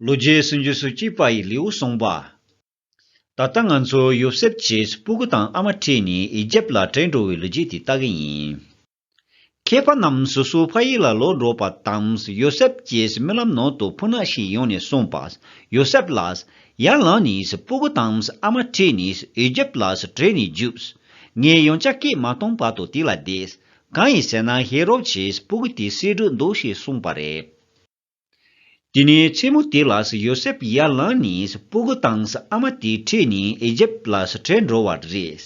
ལོ་རྒྱས་སུ་འཇུས་སུ་བཅུག་པ་ཡི་ལེའུ་གསུངས་པ། ད་ལྟ་ང་ཚོ་ཡོ་སེབ་ཀྱིས་སྤུ་གུ་དང་ཨ་མ་ཁྲིད་ནས་ཨི་ཇེབ་ལ་བྲོས་འགྲོ་བའི་ལོ་རྒྱས་དེ་ལྟ་གི་ཡིན། མཁས་པ་རྣམས་སོ་སོའི་ཕ་ཡུལ་ལ་ལོག་འགྲོ་བ་དང་ཡོ་སེབ་ཀྱིས་རྨི་ལམ་ནང་དུ་ཕུ་ནག་ཞིག་ཡོང་ནས་གསུངས་པ། ཡོ་སེབ་ལ་ཡར་ལངས་ནས་སྤུ་གུ་དང་ཨ་མ་ཁྲིད་ནས་ཨི་ཇེབ་ལ་བྲོས་ནས་རྒྱུགས། ངས་ཡང་ཅག་སྐད་མ་སྟོང་བར་དུ་དེ་ལ་བསྡད། གང་ཡིན་ཟེར་ན་ཧེ་རོབ་ཀྱིས་སྤུ་གུ་དེ་བསད་འགྲོ་འདུག་ཞེས་གསུངས་པ་རེད། དེ་ནས་མཚན་མོ་དེ་ལ་ཡོ་སེབ་ཡར་ལངས་ནས་སྤུ་གུ་དང་ཨ་མ་དེ་ཁྲིད་ནས་ཨི་ཇེབ་ལ་བྲལ་འགྲོ་བ་རེད།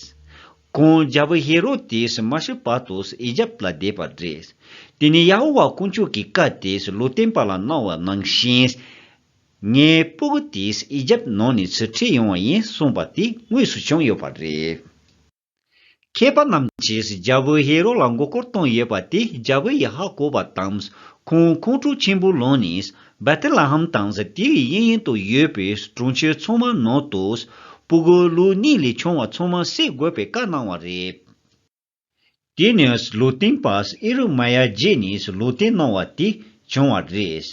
ཁོང་རྒྱལ་པོ་ཧེ་རོ་དེ་མ་ཤི་བར་དུ་ཨི་ཇེབ་ལ་བསྡད་པ་རེད། དེ་ནས་ཡ་ཧོ་ཝཱ་དཀོན་མཆོག་གི་བཀའ་དེ་ལུས་བསྟན་པ་ལ་གནང་བ་ནང་བཞིན། ངའི་སྤུ་གུ་དེ་ཨི་ཇེབ་ནང་ནས་ཁྲིད་ཡོང་བ་ཡིན་གསུངས་པ་དེ་དངོས་སུ་བྱུང་ཡོད་པ་རེད། མཁས་པ་རྣམས་ཀྱིས་རྒྱལ་པོ་ཧེ་རོ་ལ་མགོ་སྐོར་བཏང་ཡོད་པ་དེ་རྒྱལ་པོ་ཡི་ཧག་གོ་བ་དང། ཁོང་ཁོང་ཁྲོ་ཆེན་པོ་ལོན་ནས་བེ་ཐེ་ལ་ཧམ་དང་ཟི་ཏི་ཡི་གཡས་གཡོན་དུ་ཡོད་པའི་གྲོང་ཁྱེར་ཚང་མ་ནང་དུ། སྤུ་གུ་ལུག་གཉིས་ལས་ཆུང་བ་ཚང་མ་བསད་དགོས་པའི་བཀའ་གནང་བ་རེད། དེ་ནས་ལུག་སྟེང་པ་ཨི་རུ་མ་ཡ་བརྗེས་ནས་ལུག་སྟེང་གནང་བ་དེ་བྱུང་བ་རེད།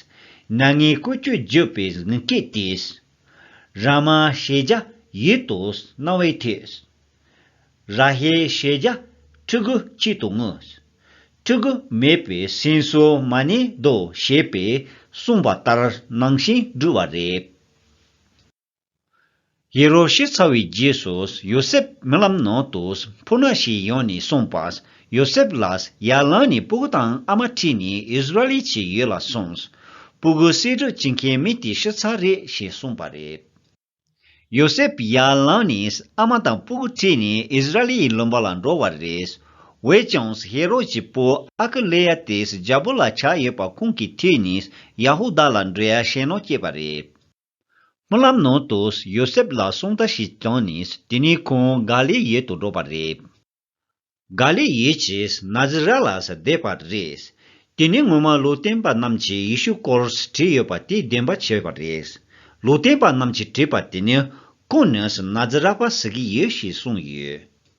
ན་ངའི་བཀོལ་སྤྱོད་བརྗོད་པའི་དབྱིན་སྐད་དེས། ར་མ་ཤེ་ཇ་ཡིད་དུ་གནང་བའི་ཐད། ར་ཧའི་ཤེས་བྱ་ཕྲུ་གུ་གཅིག་ཏུ་བསྔོས། ཕྲུ་གུ་མེད་པའི་སེམས་གསོ་མ་ནི་རྡོ་ཞེས་པས་གསུངས་པ་ལྟར་སྣང་ཞིང་སྦྲུལ་བ་རེད། ཧེ་རོ་ཤི་ཚར་བའི་རྗེས་སུ་ཡོ་སེབ་རྨི་ལམ་ནང་དུ་འཕུར་ན་ཞིག་ཡོང་ནས་གསུངས་པ། ཡོ་སེབ་ལ་ཡར་ལངས་ནས་སྤུ་གུ་དང་ཨ་མ་ཁྲིད་ནས་ཨིས་ར་ཨེལ་གྱི་ཡུལ་ལ་སོང། སྤུ་གུ་གསེར་བྲོ་བྱེད་མཁན་མི་དེ་ཤི་ཚར་རེད་ཞེས་གསུངས་པ་རེད། ཡོ་སེབ་ཡར་ལངས་ནས་ཨ་མ་དང་སྤུ་གུ་ཁྲིད་ནས་ཨིས་ར་ཨེལ་ཡི་ལུང་པ་ལ་འགྲོ་བ་རེད། འོད་ཀྱང་ཧེ་རོད་ཀྱི་བུ་ཨ་ཀི་ལེ་ཡཱ་དེས་རྒྱལ་པོ་ལ་ཆ་ཡོད་པ་ཁོང་གིས་ཁྲིད་ནས་ཡ་ཧུ་དཱ་ལ་འབྲེལ་ཡ་བྱེད་ནང་སྐྱེས་པ་རེད། སྨོན་ལམ་ནང་དུ་ཡོ་སེབ་ལ་གསུང་བརྡ་ཞིག་བཏང་ནས་དེ་ནས་ཁོང་ག་ལེ་ཡཱ་དུ་འགྲོ་བ་རེད། ག་ལེ་ཡེ་ཅེས་ན་ཛི་རཱ་ལ་སི་བཟླས་པ་རེད། དེ་ནི་སྔོན་མ་ལུས་བསྟན་པ་རྣམས་ཀྱིས་ཡེ་ཤུ་སྐོར་བྲིས་ཡོད་པ་དེ་བདེན་པ་བྱས་པ་རེད། ལུས་བསྟན་པ་རྣམས་ཀྱིས་བྲིས་པ་དེ་ནི་ཀུན་ནས་ན་ཛི་རཱ་བ་ཟི་གི་ཡོད་ཞེས་གསུངས་ཡོད།